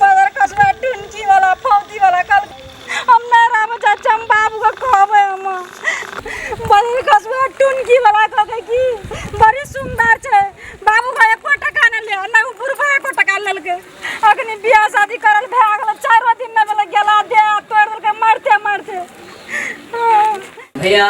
बाजार कसबा टुनकी वाला फौजी वाला कल हम ना राम चाचा हम बाबू का कहबे हम बाजार कसबा टुनकी वाला कहबे की बड़ी सुंदर छे बाबू का एको टका न ले ना उ बुढ़वा एको टका न लेके अखनी बियाह शादी करल भे गेल चारो दिन न भेल गेला दे तोड़ देलके मारते मारते भैया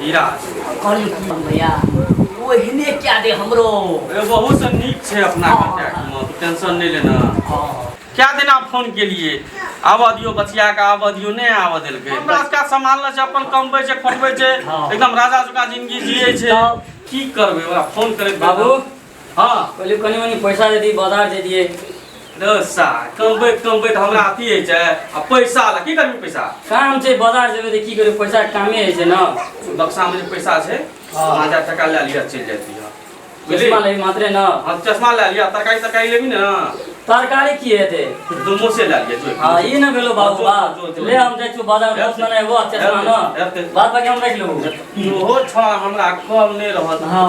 हीरा कहलियो की हम भैया ओहने क्या दे हमरो ए, बहुत से नीक छै अपना हाँ। कॉन्टैक्ट में तू टेंशन नहीं लेना हाँ। क्या दिन आप फोन के लिए आबऽ दियो बचिया के आबऽ दियो नहीं आबऽ देलके हमरा सबका सामान ल छै अपन कमबै छै खोटबै छै हाँ। एकदम राजा जका जिंदगी जियै छै तब? की करबै ओकरा फोन करे बाबू हाँ पहले कनी मनी पैसा दे दिए बाजार दे दिए रसा कमबे कमबे तो हमरा अथी है छै आ पैसा ला की करबी पैसा काम छै बाजार जेबे त की करे पैसा कामे है छै ना बक्सा में पैसा छै हाँ। पाँच हजार टका ले लिया चल जाती है चश्मा ले मात्रे ना हाँ चश्मा ले लिया तरकारी तरकारी लेबी ना तरकारी की है ते दुमो से ले लिया जो हाँ ये ना भेलो बाबू बा ले हम जाय छु बाजार दोस्त ना है वो चश्मा ना बात बाकी हम रख लेबो ओहो छा हमरा कम नहीं रहत हाँ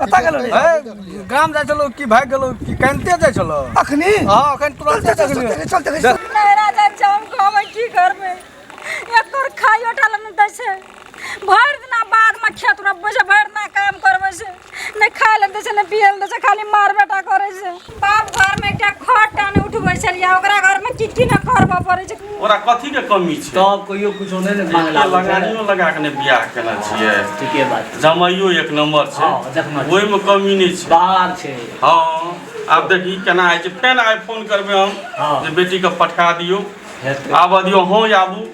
कतऽ गेलो रे ए, गाम जाइ छलौ कि भागि गेलौ कि कानिते जाइ छलौ अखनी हँ अखन चल तुरंते चल चल देखलियै चल चल चल नहरा जाइ छै हम कहबै की करबै एक तोर खाइयो टा लए नहि दै छै भरि दिना बाधमे खेत रोपबै छै भरि दिना काम करबै छै नहि खाय लए दै छै नहि पियै लए दै छै खाली मार बेटा करै छै बाप घर में एकटा खट टाने उठबै छलियै ओकरा घर में चिट्ठी न करबऽ पड़ै छै ओकरा कथी के कमी छै तब कहियो कुछो नहि ने मांग एकटा लागल छै। लगानियो लगा के ने बियाह केने छियै ठीके बात छै। जमाइयो एक नंबर छै हँ, देखना छै। ओहिमे कमी नहि छै बाहर छै हँ आब देखी केना होइ छै फेन आइ फोन करबै हम हँ। जे बेटीके पठा दियौ हेतै आबऽ दियौ हँ आबू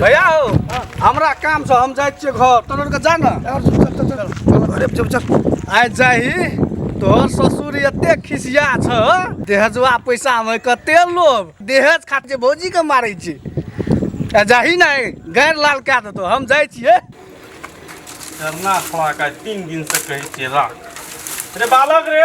भैया हो हमरा काम से हम जाए छिए घर तोर के जा ना अरे चल चल आइ जाही तोहर ससुर एते खिसिया छ देहजवा पैसा में कते लोभ देहज खातिर जे भौजी के मारै छी आ जाही ना गैर लाल कए देतो हम जाए छिए धरना खड़ा का तीन दिन से कहे छिए राख रे बालक रे